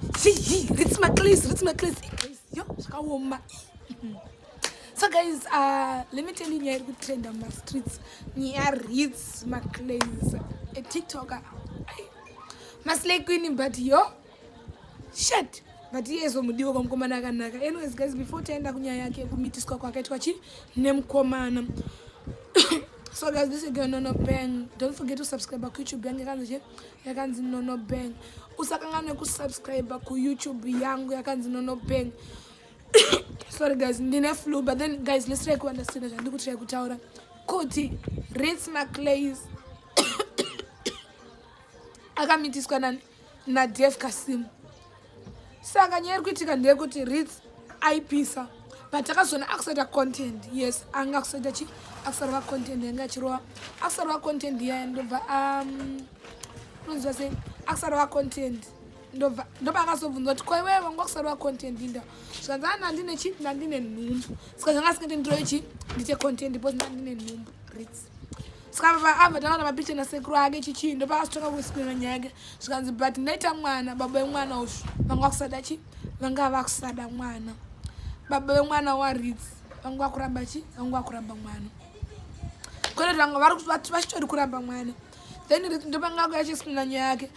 Hihi, ritsi maclays, ritsi maclays. Yo, zvakaoma. So guys, uh, let me tell you nyaya iri kutrenda mumastreets. Nyaya ritsi maclays. A TikToker. Maslay queen, but yo, shit. but iye zomudiwa kwamukomana akanaka anyways guys before taenda kunyaya yake kumitiswa kwakaitwa chi nemukomana so guys this is going on a bang don't forget to subscribe our youtube yange kanzi che yakanzi nono bang usakanganwe kusubscribe kuyoutube yangu yakanzi nono bang sorry guys ndine flu but then guys let's try kuunderstand zvandiri kutry kutaura kuti rits maclays akamitiswa nadef kasimu saka nyaya iri kuitika ndeyekuti rits aipisa but akazoona akusaita content yes anga akusaita chi akusarova content yanga achirova akusarova content yaya ndobva um, unonziva sei akusarova content ndobva ndoba akazobvunza kuti ko iwewe wanga kusarova content inda zvikanzi ana ndine chi ndandine nhumbu saka zvanga asingati ndiroye chi ndite content bcause ndandine nhumbu rits ska baba ava takaona mapicha nasekuru ake chichii ndopakazotanga kuisipira nyaya yake zvikanzi but ndaita mwana baba vemwana ushu vanga vakusada chi vanga vakusada mwana baba vemwana waritz vanga vakuramba chi vanga vakuramba mwana kwete vanga vachitori kuramba mwana then ndopanga kuyachispina nyaya yake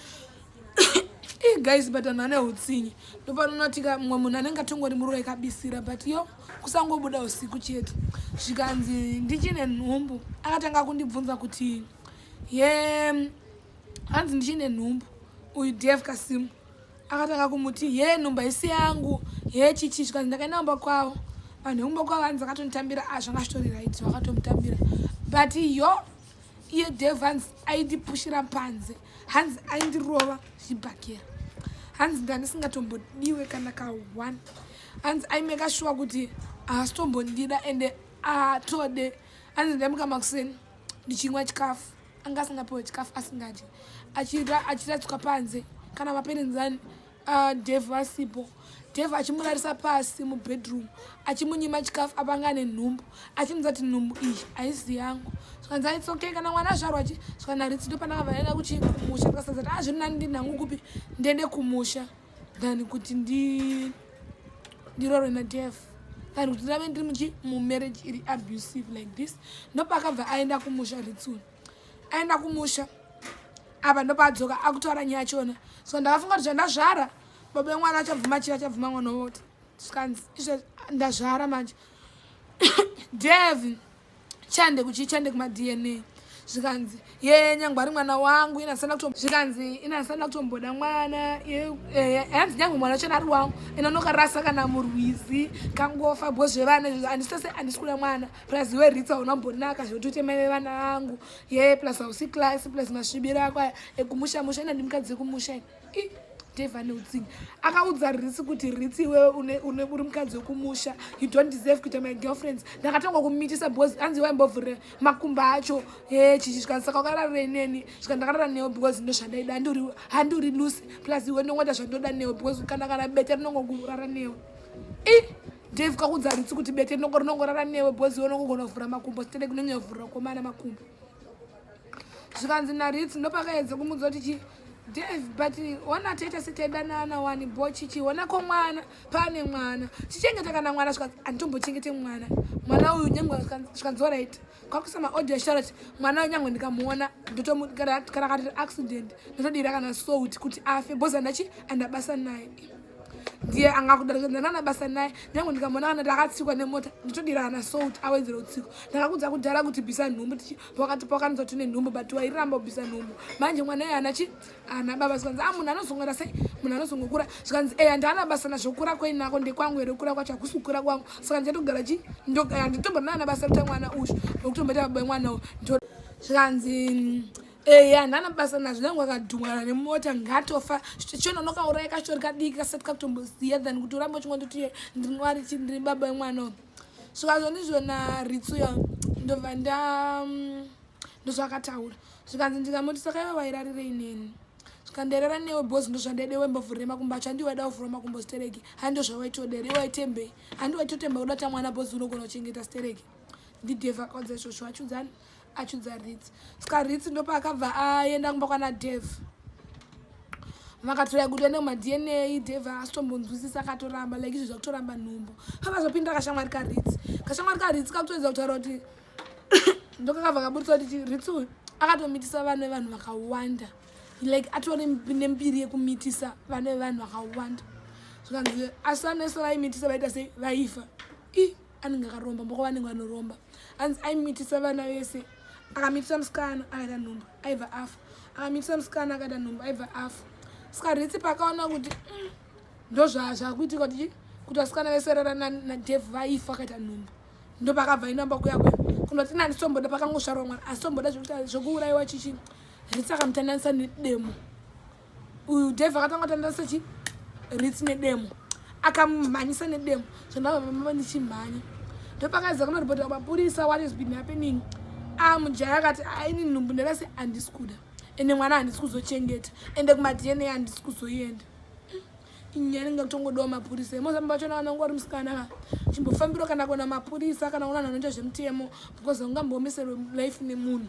guys but anhu ane utsinye ndopanonotika mumwe munhu anenge atongori muruwa ikabisira but yo kusangobuda usiku chete zvikanzi ndichine nhumbu akatanga kundibvunza kuti ye hanzi ndichine nhumbu uyu dev kasimu akatanga kumuti ye nhumba isi yangu ye chichi zvikanzi ndakaenda kumba kwavo vanhu vekumba kwavo hanzi akatonitambira ah, zvanga zvitori right vakatomutambira but yo iye dev hanzi aindipushira panze hanzi aindirova zvibhakera hanzi ndandisingatombodiwe kana ka one hanzi aimeka shuwa kuti haasitombondida ende atode hanzi ndaimuka makuseni ndichinwa chikafu anga asingapiwe chikafu asingadye achiradzwa panze kana maperenzani ah, dev vasipo dev achimurarisa pasi mubedroom achimunyima chikafu apanga ane nhumbu achimuza kuti nhumbu iyi haizi yangu zvikanzi aits okay kana mwana azvarwa chi zvikanaritsido pananga vaenda kuchimusha ndikasazati azviri ah, nani ndinhangu kupi ndende kumusha than kuti ndi ndirorwe nadef than kuti ndave ndiri muchi mumarriage iri abusive like this ndopakabva aenda kumusha ritsuni aenda kumusha apa ndopaadzoka akutaura nyaya chona so ndakafunga kuti zvandazvara baba vemwana achabvuma chii achabvuma mwana woti zvikanzi izvo ndazvara manje dev chande kuchi chande kuma dna zvikanzi ye nyangwe ari mwana wangu ina sana kutombo zvikanzi ina sana kutomboda mwana ye eh, hanzi nyangwe mwana chana ari wangu ina noka rasa kana murwizi kangofa bho zvevana izvo andisese andisikula mwana plus iwe ritsa una mbonaka zvekuti uite maive vana vangu ye plus hausi class plus masvibiro ako aya ekumusha musha ina ndimukadzi kumusha ina devane utsinye akaudza risi kuti risi iwewe une uri mukadzi wekumusha you don't deserve kuita my girlfriends ndakatanga kumitisa because anzi waimbovhure makumba acho e chichi zvikanzi saka wakararira ineni zvika ndakarara newe because ndo zvandaida handi uri lucy plus iwe ndongoita zvandoda newe because kana kana bete rinongokurara newe i dave kakuudza risi kuti bete rinongorara newe because iwe unongogona kuvhura makumbo sitede kunonyovhurira komana makumbo zvikanzi naritsi ndopakaedza kumudza kuti chii Dave, but ona tete sitaidanana wani bo chichi ona ko mwana pane mwana chichengeta kana mwana zvikanzi anditombochengete mwana mwana uyu nyangwe zvikanzi orit kwakuisa maaudio charot mwana uyu nyangwe ndikamuona ndotomukana katiri accident ndotodira kana sout kuti afe bhozi andachi andabasa naye ndiye angakudaanana basa naye nyangwe ndikamuona kana takatsikwa nemota ndotodira kana sout awedzera utsiko ndakakudza kudhara kuti bvisa nhumbu tichi pakati pakanzwa tine nhumbu but wairamba kubvisa nhumbu manje mwana iye ana chi ana baba zvikanzi a ah, munhu anozongora sei munhu anozongokura zvikanzi eya ndaana basa nazvo kura kwainako ndekwangu here kura kwacho hakusi kukura kwangu saka ndichatogara chi nditombona naana basa rita mwana uyu nokutomboita baba mwana uyu zvikanzi mm, eya ndana basa nazvo nangu akadhumwana nemota ngatofa chiona unokauraya kachitori kadiki kasati kakutomboziya than kuti uramba uchingondoti ndinwari chi ndiri baba emwana uyu zvikazvo ndizvona ritsuyo ndobva nda mm, ndozvakataura zvikanzi ndikamuti saka iwe wairarirei neni zvikanderera newe bos ndozvandaide iwe mbovhurire makumbo acho handi waida kuvhura makumbo stereki handi ndozvawaitodera iwe waitembei handi waitotemba kuda tamwana bos unogona kuchengeta stereki ndidevakadza izvozvo achiudzani achunza ritsi ska ritsi ndopaakabva aenda kumba kwana dev vakatora kuti ende kumadna dev asitombonzwisisa akatoramba like izvi zvakutoramba nhumbu kakazopinda kashamwari karitsi kashamwari karitsi kakutoedza kutaura kuti ndokakabva kaburitsa kuti ritsi uyu akatomitisa vana vevanhu vakawanda like atore nembiri yekumitisa vana vevanhu vakawanda zvikanzi asi vanoeso vaimitisa vaita sei vaifa i anenge akaromba mboko vanenge vanoromba hanzi aimitisa vana vese akamitisa musikana akaita nhumba aibva afa akamitisa musikana akaita nhumba aibva afa saka ritsi paakaona kuti mm, ndozvazvakuitika kuti kuti vasikana vese rara nadevhu vaifa akaita nhumba ndo pakabva inamba kuya kuya kunoti nani somboda pakangosvarwa mwana asi somboda zvekuuraiwa chichi ritsi akamutandanisa nedemo uyu dave akatanga tanda sechi rit nedemo akamumhanyisa nedemo zvandavavamava ndichimhanya ndopakaiza kunoripota mapurisa what has been happening a mujaya akati aini nhumbu ndarasi handisi kuda ende mwana handisi kuzochengeta ende kumadna handisi kuzoienda inyaya inenge kutongodawo mapurisa emozambo vacho na vanangu vari musikana ka chimbofambiro kana kuona mapurisa kana kuona vanhu vanoita zvemutemo because ungambomiserwe life nemunhu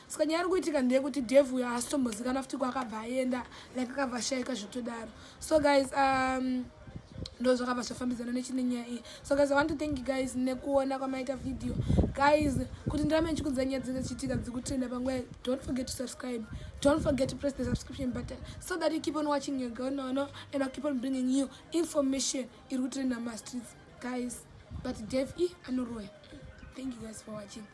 saka nyaya iri kuitika ndeyekuti dev uyo haasitombozikana futi kwaakabva aenda like akabva ashaika zvekutodaro so guys um, ndo zvakabva zvafambidzana nechine nyaya iyi so guys i want to thank you guys nekuona kwamaita video guys kuti ndirame ndichikudza nyaya dzinenge dzichiitika dzikutenda panguva don't forget to subscribe don't forget to press the subscription button so that you keep on watching your girl no no and i keep on bringing you information iri kutrenda mastreets guys but dev e anoroya thank you guys for watching